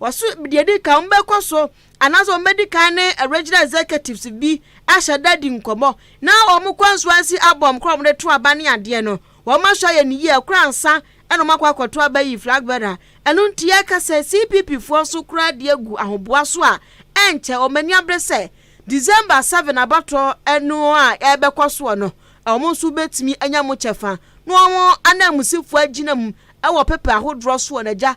Wɔso deɛ edi kan wɔbɛkɔ so anaasɛ wɔbɛdi kan ne regional executives bi ahyɛ da di nkɔmmɔ na wɔn constituency abɔm kora wɔn de to aba ne adeɛ no wɔn ahwɛ ayɛ ne yie kora ansa ɛna wɔn akɔ akɔto aba yi flag bearer ɛno nti yɛka sɛ CPP foɔ nso kora de agu ahoboa so a ɛnkyɛ wɔn ani abere sɛ December 7 abatoɔ ɛno a ɛbɛkɔ soɔ no wɔn nso bɛtumi anya mo kyɛfa na wɔn ananmusifoɔ agyina mu ɛwɔ pepa ahodoɔ soɔ na agya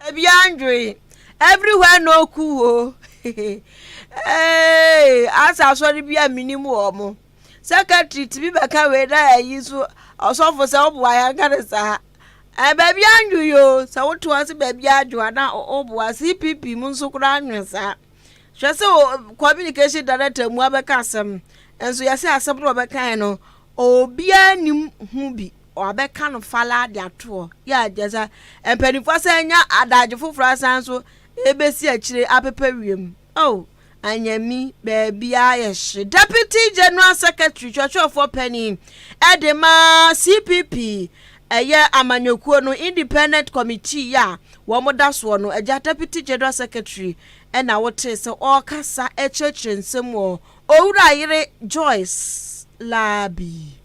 Baabiara nnwoe. Everywhere no cool o. Hey, asa asɔre bi a menim wɔ mo. Secretary tumi bɛka wei na ɛyi nso ɔsɔfo sɛ ɔboa yɛn ka ne saa. Ɛɛ baabiara nnwoe o. Sɛ woto ase baabiara dwo a na ɔboa CPP mu nso koraa nnwoe saa. Hwɛ sɛ o communication director mu abɛka asɛm. Nso yɛsɛ asɛm na ɔbɛka yɛn no obiara nim ho bi. wɔabɛka no falaa de ato hɔ. Yɛ a kyerɛ sɛ mpanimfoɔ asan anya adagye foforɔ asan so rebɛsi akyire apepa wiem. Oh, anyami baabiara yɛ hye. Deputy General Secretary twerɛtwerɛfoɔ panin de ma CPP ɛyɛ amanyɔkuo no independent committee yɛ a wɔda soɔ no agya Deputy General Secretary ɛna wotee sɛ ɔrekasa kyerɛkyerɛ nsɛm wɔ Owura Yere Joyce Labi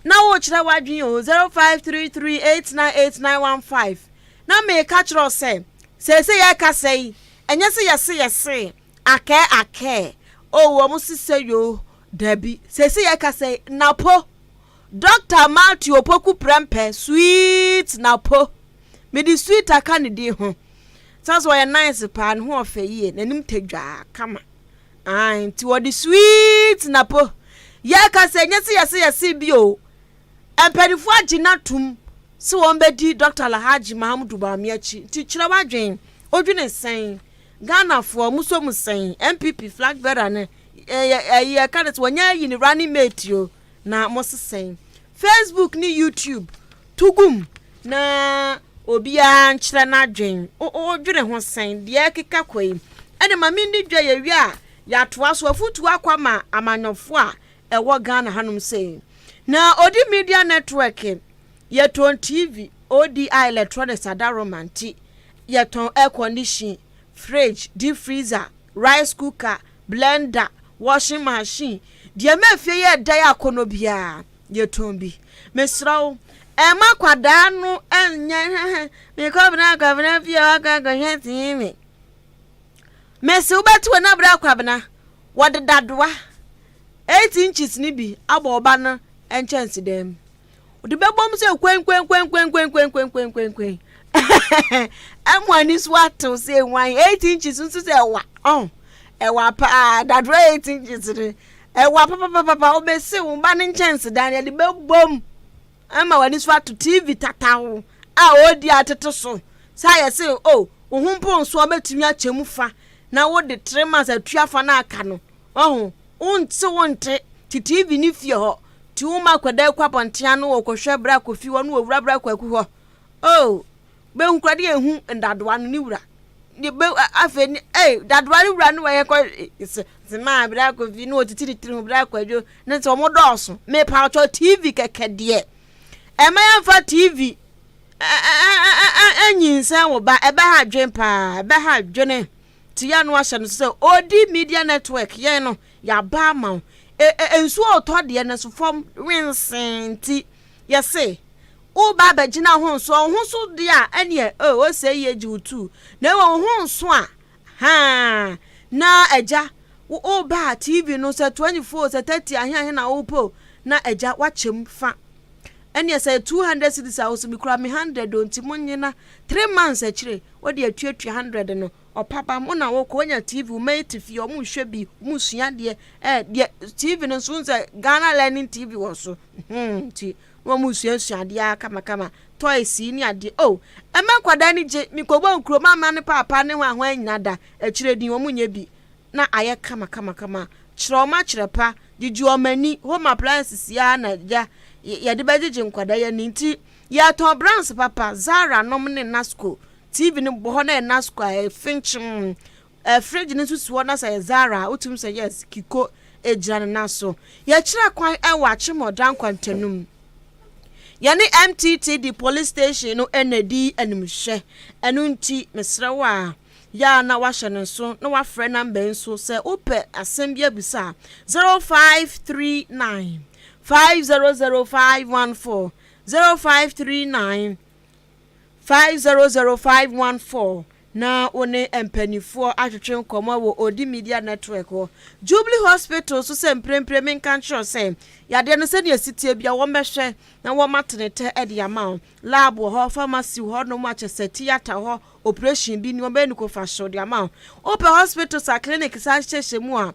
na worekyerɛ w'adwene o, zero five three three eight nine eight nine one five na meka kyerɛ wo sɛ seesei yɛrekasa yi ɛnyɛ sɛ yɛse yɛse akɛɛ akɛɛ o wɔn sesɛ yoo dabi seesei yɛrekasa yi napo Dr. Matthew Opoku Prempeh sweet napo mede sweet aka ne din ho sɛ sɛ ɔyɛ nice paa ne ho ɔfɛ yie n'anim tadwaa kama Ae nti wɔde sweet na po. Yɛka sɛ ɛnyɛ sɛ yɛse yɛse bi o. Mpaninfoɔ agye no atom sɛ wɔn bɛdi Dɔkta Alhaji Mahamudu Bawumia akyi nti kyerɛ w'adwen, odwene sɛn? Ghanafoɔ moso mo sɛn? NPP flag bearer no ɛyi yɛka no sɛ wɔnyɛ ayi no running mate o na mose sɛn? Facebook ne YouTube to gum na obiara nkyerɛ n'adwen. Wodwene ho sɛn? Deɛ ɛkeka kɔ yi, ɛne ma mendi dwa yɛwie a yɛatoa so. Afotuo akɔ ama amanyɔfoɔ a ɛwɔ Ghana hanom sei. Na Odi Media Network, yɛtɔn TV, ODI Electronics Adaroma nti yɛtɔn air condition, fridge, deep freezer, rice cooker, blender, washing machine, deɛ ɛma fie yɛ dɛ yɛ akɔnɔ biara yɛtɔn bi. Mesrɛ wo ɛmma akwadaa no nyɛ hɛhɛ mekɔ bena kwabena fie hɔ akɔ akɔhwɛ TV. Mese wobɛte wɔ na bena kwabena wɔde dadoa eight inches no bi abɔ wo ba no nkyɛnsedan mu. ɔde bɛbɔm sɛ kwenkwenkwenkwenkwenkwenkwenkwenkwen ɛmo ani so atew sɛ nwan eight inches nso sɛ ɛwa ɔn ɛwa paa dadoro eight inches no ɛwa papapapa ɔbɛsi wo ba ne nkyɛnsedan yɛde bɛbɔm ɛma w'ani so ato tv tatawo a ɔredi atete so sɛ ayɛ sɛ o oh, wo ho mponso ɔbɛtumi akyɛ mu fa na wode three months atua fa no aka no ɔho wonte wonte te tv ne fie hɔ Tuum akwadaa kɔ abɔnten ano wɔ kɔhwɛ bra kofi hɔ ne wɔ wura bra kwaku hɔ oh bɛ hu kura de yɛ hu ndadoa no ne wura de bɛ afei ne eh dadoa ne wura ne wɔ yɛ kɔ se se maa bra kofi ne wɔ titiri tiri ho bra kwadwo ne sɛ wɔn dɔɔso me pa ɔtɔ tv kɛkɛ deɛ ɛmɛ yɛn fa tv ɛnyinsɛn wo ba ɛbɛ ha adwen paa ɛbɛ ha adwene ti yɛ no ahyɛ no so sɛ odi media network yɛn no Yɛaba ama wo. E-e, nsuo a ɔtɔ deɛ no so fam wensee nti, yɛse woreba abɛgyina ho nso a, wo ho so deɛ a, ɛneɛ e, ose yie gye wo tuu, na mmom wo ho nso a, haa, na Agya, wo, woreba a, TV no, sɛ 24 o, sɛ 30 ahe ahe na wopɛ o, na Agya, woakyɛ mu fa. Ɛneɛ sɛ ɛyɛ 200 cedis a, ose mekura me hundred o, nti monyina, three months akyire, wode atuatua hundred no. Ɔpaba mo na wɔkɔ wɔnya TV wɔn ayi te fie wɔn hwɛ bi wɔn sua adeɛ ɛɛ deɛ TV no nso sɛ Ghana learning TV wɔ so hmm ti na wɔn sua sua adeɛ ara kama kama toys yi ne adeɛ oh ɛmɛ nkwadaa ni gye mi kɔ bɔ nkuro mama ne paapa ne ho ahoa anyina da akyire din wɔn nyɛ bi na ayɛ kama kama kama kyerɛ wɔn akyerɛ pa gyegye wɔn ani home appliances yi ara na gya yɛde bɛgyegye nkwadaa yɛ ne nti yɛtɔn brands papa Zara nom ne Nasco. TV no bɔ hɔ na yɛ nas kɔ a efe nkyem ɛɛ fridge no nso si hɔ na sɛ yɛ Zara a wotumi sɛ yes Kiko egyina ne nan so yɛkyerɛ kwan ɛwɔ Akyemɔdan kwantanum yɛne MTTD police station no ɛna edi animhwɛ ɛno nti mesrɛ wo a yɛ a na wahyɛ ne nso na wafrɛ namba yi so sɛ wopɛ asɛm bi abisa a zero five three nine five zero zero five one four zero five three nine. 500514 na wo ne mpanimfoɔ atwetwe nkɔmmɔ wɔ Odi Media Network hɔ. Jubilee Hospital nso sɛ mprempren menka nkyerɛ wo sɛ yadeɛ no sɛdeɛ ɛsi teɛ bia wɔbɛhwɛ na wɔma tenetɛ de ama wo. Lab wɔ hɔ, pharmacy wɔ hɔ nom a kyerɛ sɛ theatre hɔ operation bi ni wɔbɛyɛ no kofa hyew de ama wo. Wopɛ hospitals a clinic saa nhyehyɛehyɛ mu a,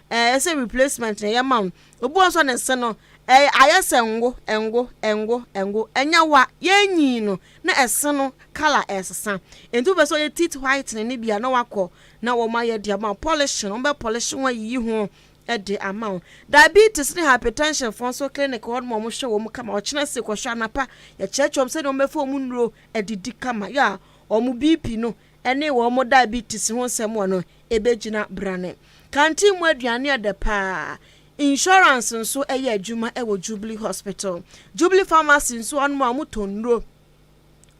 Ɛyɛ sɛ replacement na yɛma wo. Obi wɔ hɔ nso a ne se no, ɛyɛ ayɛ sɛ ngo, ngo, ngo, ngo. Ɛnyɛ wo a, yɛrenyin no na ɛse no colour resesa. Enti wopɛ sɛ ɔyɛ teeth whitening no bi a na woakɔ na wɔayɛ de ama wo. Polishing, wɔbɛ polish ho ayiyi ho de ama wo. Diabetes ne hypertension foɔ nso clinic hɔ nom a wɔhwɛ wɔn kama. Ɔkyena se kɔhwɛ anapa, yɛkyerɛkyerɛ wɔn sɛdeɛ wɔbɛfa wɔn nnuro adidi kama. Yeah, wɔn BP no ne wɔn diabetes ho nsɛm wɔ no, ebegyina brane. Kanteen mu aduan yɛ dɛ paa. Insurance nso yɛ adwuma wɔ Jubilee Hospital. Jubilee Pharmacy nso wɔnom a wɔtɔn nnuro.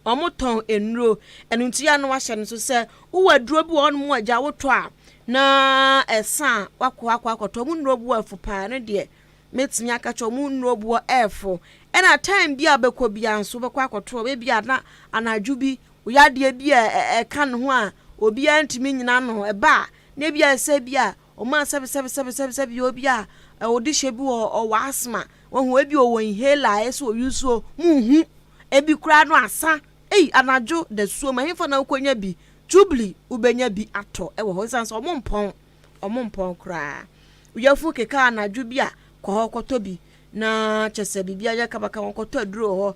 Wɔtɔn nnuro. Ɛno nti yɛ a na wɔahyɛ no so sɛ wowɔ aduro bi wɔ hɔnom a gya wotɔ a na ɛsa a wakɔ akɔ akɔtɔ. Wɔn nnuro boɔ fo paa. Ɛno deɛ mɛtumi aka kyɛ wɔn nnuro boɔ fo. Ɛna time bi a bɛkɔ biara nso bɛkɔ akɔtɔ. Ebi a na anadwo bi Yadeɛ bi a ɛka ne ho a obiara ntumi nnyina ano ba a, na ebi ayɛ sɛ bi a wɔmaa sɛbesɛbesɛbesɛbesɛbe obi a ɔwɔ dehyɛ bi wɔ ɔwɔ asthma. Wahu ebi ɔwɔ inhaler a ɛyɛ sɛ ɔyi nsuo, monhu. Ebi koraa no asa. Ei, anadwo dasuom, ɛhefa na wokɔnya bi? Tubli, wobɛnya bi atɔ wɔ hɔ ɛsiane sɛ wɔmpɔn, wɔmpɔn koraa. Wo yafunu keka anadwo bi a, kɔ hɔ kɔtɔ bi. Na kyerɛ sɛ biribi ayɛ kabakaba, kɔtɔ aduro wɔ hɔ.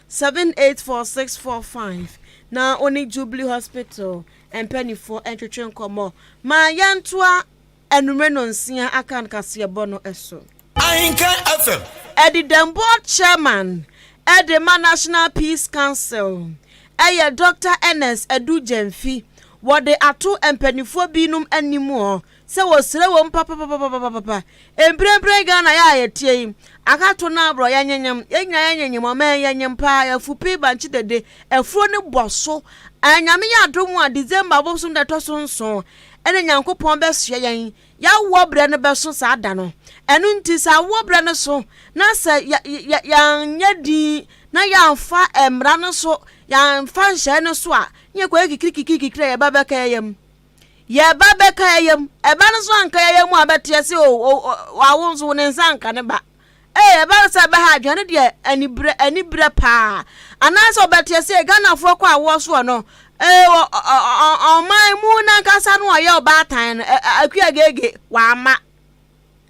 78465 na wo ne Jubilee Hospital mpaninfoɔ ntwetwe nkɔmmɔ ma yɛntoa anwummerɛ nɔnsia akan kaseɛbɔ no so. Ahenka FM. Ɛde dɛm board chairman de ma National Peace Council yɛ Doctor Ernest Adu Gyamfi, wɔde ato mpaninfoɔ binom anim hɔ sɛ wɔsrɛ wom papapapapapapa, mprempren Ghana yɛ a yɛteɛ yi, aka to no aborɔ, yɛnyenyem, yɛn nyinaa yɛnyenyem, ɔman yi yɛnyem paa, yɛfu pii bankye dede, afuro no bɔ so, ɛɛ Nyame yɛ adom a December bosom da ɛtɔ so nson ɛna Nyankopɔn bɛsoɛ yɛn, y'awoɔ berɛ no bɛso saa da no, ɛno nti sɛ awoɔ berɛ no so na sɛ yɛ, yɛ, yɛanyɛ din na yɛamfa mmara no so, yɛamfa nhyɛɛ no so a, ne yɛkɔyɛ kikirikikirikikiri a yɛba bɛka yɛyam. Yɛ ba bɛka yɛyɛ mu. Ɛba no nso anka yɛyɛ mu a bɛteɛ se o wawo nso ne nsa anka ne ba. Ee ɛba no sɛ ɛbɛha adwene no deɛ anibrɛ anibrɛ paa. Anaasɛ ɔbɛteɛ se Ghanafoɔ kɔ awoɔ soɔ no ee ɔman mu nankasa no ɔyɛ ɔbaatan no akua gege wama.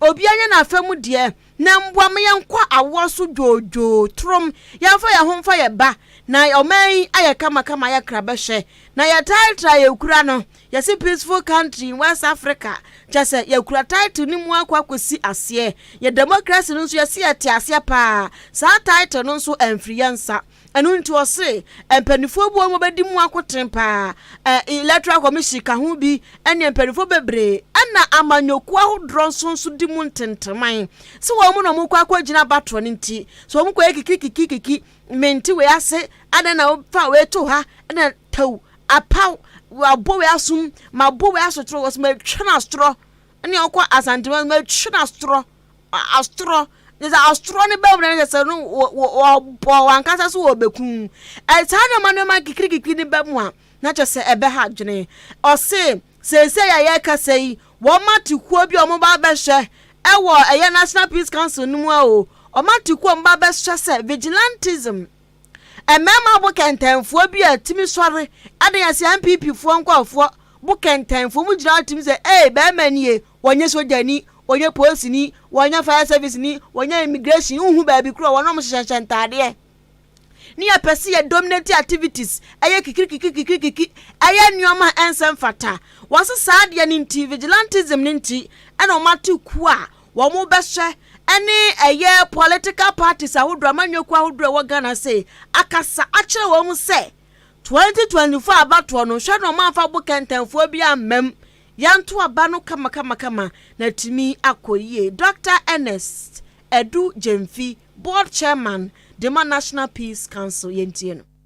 Obiara nyɛ n'afa mu deɛ, na mboa ma yɛnkɔ awoɔ so dwoodwoo, torom, yɛmfa yɛn ho mfa yɛn ba, na ɔman yi ayɛ kamakama ayɛ krabɛhwɛ, na yɛtaa tra a yɛkura no, yɛse peaceful country in West Africa, kyɛsɛ yɛkura title no mu akɔ akɔsi aseɛ, yɛn democracy no nso yɛse yɛte aseɛ paa, saa title no nso amfiri yɛn nsa. Ɛno nti ɔse mpaninfoɔ bi wɔ hɔ a wɔbɛdi mu akoten paa, Electoral Commission ka ho bi ɛne mpaninfoɔ bebree ɛna amanyɔkuo ahodoɔ nso nso di mu ntenteman sɛ wɔn na wɔkɔ akɔgyina abatoɔ no nti sɛ wɔn kɔyɛ kikikikikiki mente wei ase adɛn na wofa wei to ha ɛna tɛw apaw wabɔ wei asom mabɔ wei asotoro wɔsɛ matwa no asotoro ne ɔkɔ asantuma no mɛtwi no asorɔ asorɔ ne sɛ asorɔ no bɛwura no sɛ sɛ no wɔbɔ wankasa so wɔbɛku saa nneɛma nneɛma kikirikikiri no bɛmu a na kyɛ sɛ ɛbɛha adwene ɔse seesei a yɛka sɛ yi wɔma te kuo bi a wɔba bɛhyɛ ɛwɔ ɛyɛ national peace council no mu a o wɔma te kuo a wɔba bɛhyɛ sɛ vigilantism Mmarima bo kɛntɛnfoɔ bi a tumi sɔre de yɛ sɛ NPP foɔ nkɔɔfoɔ bo kɛntɛnfoɔ mu gyina hɔ tumi sɛ ee bɛɛma nie wɔnyɛ sogyani wɔnyɛ poosini wɔnyɛ fire service ni wɔnyɛ immigration wohu baabi korɔ wɔn a wɔn hyehyɛhyɛ ntaadeɛ ne yɛ pɛ sɛ yɛ dominate activities ɛyɛ kikirikiki kikirikiki ɛyɛ nneɛma ɛnsɛ mfata wɔn sɛ saa adeɛ ne nti vigilantism ne nti ɛna wɔn ate kuo a wɔn bɛhyɛ ne ɛyɛ political parties ahodoɔ amanyɔkuo ahodoɔ ɛwɔ ghana sei akasa akyerɛ wɔn sɛ 2024 abatoɔ no nhwɛ na ɔmanfa bo kɛntɛnfoɔ bi ammam yɛnto aba no kamakamakama na tumi akɔ yie dr ernest edu gyemfi board chairman dema national peace council yɛntie no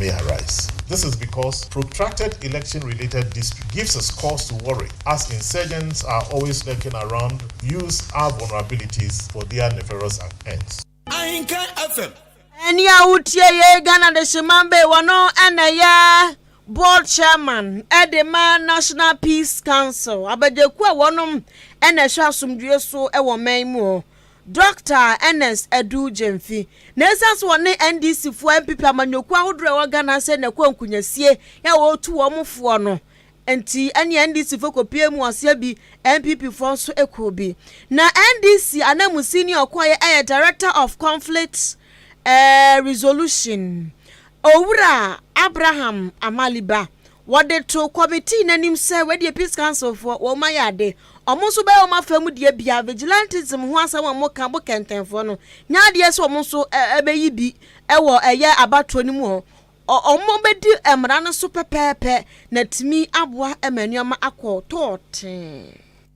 may arise. This is because protracted election-related dispute gives us cause to worry as insurgents are always lurking around use our vulnerabilities for their nefarious ends. Ahinkan FM. Ɛne a wotie yɛ Ghana de Sheman Bay wɔno ɛna ɛyɛ board chairman ɛde ma National Peace Council abadwakuo a wɔnom ɛna ɛhwɛ asomdwoeɛ so ɛwɔ man mu hɔ. Dɔkta Ernest Adu Gyamfi, na ɛsiane sɛ ɔne NDC foɔ, NPP, amanyɔkuo ahodoɔ a ɛwɔ Ghana ase na ɛkɔ nkunyasie a wɔretu wɔn foɔ no nti, ɛne NDC foɔ kɔpie mu aseɛ bi, NPP foɔ nso kɔɔ bi. Na NDC ananmusini a ɔkɔeɛ yɛ Director of Conflict eh, Resolution, Owura Abraham Amaliba. Wɔde too kɔmitii no anim sɛ wɔadi Peace Council foɔ, wɔn ayɛ ade. Wɔn nso bɛyɛ wɔn afa mu deɛ bia. Vigilantism ho asɛm a wɔka bo kɛntɛnfoɔ no nyɛ adeɛ sɛ wɔn nso bɛyi bi wɔ ɛyɛ abatoɔ no mu hɔ. Wɔbɛdi mmara no so pɛpɛɛpɛ na atumi aboa ma nneɛma akɔ tɔɔtee.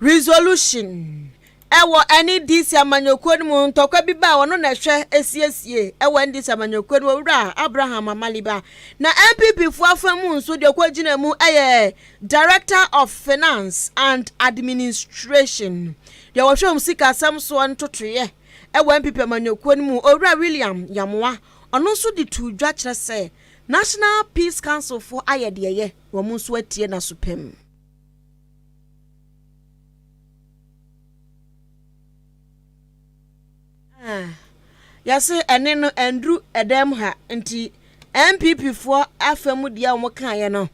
Resolution, Ɛwɔ NDC amanyɔkuo no mu ntɔkwa bi ba a ɔno na ɛhwɛ siesie ɛwɔ NDC amanyɔkuo no mu Owura Abraham Amaliba na NPP foɔ afa mu nso deɛ ɔkɔ gyina mu ɛyɛ Director of Finance and Administration deɛ wɔhwɛ wɔn sika asɛm soɔ ntotoeɛ ɛwɔ NPP amanyɔkuo no mu Owura William Yamoa ɔno nso de tuu dwa kyerɛ sɛ National Peace Council foɔ ayɛ deɛ ɛyɛ wɔn nso atie n'asopam. Yɛse ɛne no ɛnduru ɛdan mu ha nti NPP foɔ afa mu deɛ a wɔkaeɛ no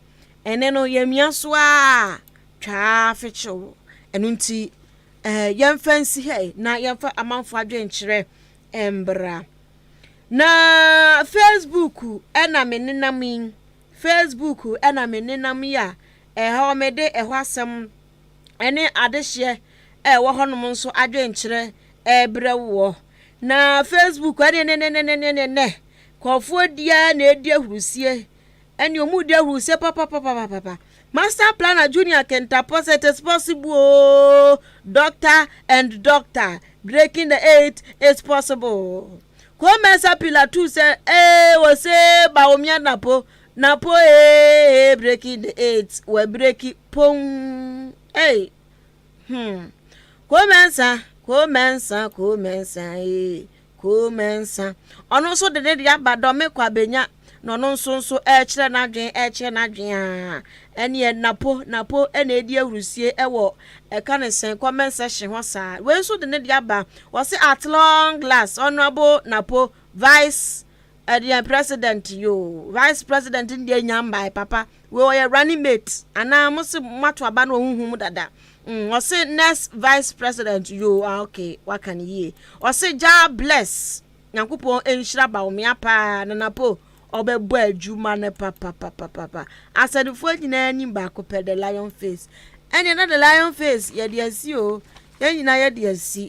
ɛne no yɛmia so ara twaa fekyew ɛno nti ɛɛ yɛmfa nsi ha yi na yɛmfa amanfoɔ adwenkyerɛ mbra na Facebook ɛna me nenam yi Facebook ɛna me nenam yi a. Ɛhaw me de ɛhɔ asɛm ne adehyeɛ a ɛwɔ hɔnom nso adwenkyerɛ rebrɛ woɔ. Na Facebook ɛnenenenenenenɛ nkurɔfoɔ di ara na ɛredi ahurusie ɛne wɔn redi ahurusie papapapapapa. Master Planner Junior Kentapɔ sɛ it is possible oo doctor and doctor breaking the eight is possible. Kɔmɛsa Pilatus sɛ ee wɔsee Baomianapo Na po ee breki de eight wɔ breki pon ei hmm Koo Mɛnsa Koo Mɛnsa Koo Mɛnsa ee Koo Mɛnsa Ɔno nso de ne de aba dɔ me kɔ abenya na ɔno nso nso ɛkyerɛ n'adwen ɛkyerɛ n'adwen a ɛneɛ napo napo ɛna edi ahurusie ɛwɔ ɛka ne sɛn comment section hɔ saa wei nso de ne de aba wɔse at long last honourable napo vice Ɛdeɛn president yoo vice president no deɛ nya mbae papa wei ɔyɛ running mate anaa mo se mo ato aba no wɔ huhu mu dada mm ɔse next vice president yoo ah ok waka no yie ɔse Jah bless Nyankopɔn nhyira Bawumia paa Nana Po ɔbɛbɔ adwuma no papapapapa asɛnefoɔ nyinaa nim baako pɛ the lion face ɛneɛ na the lion face yɛde asi oo yɛn nyinaa yɛde asi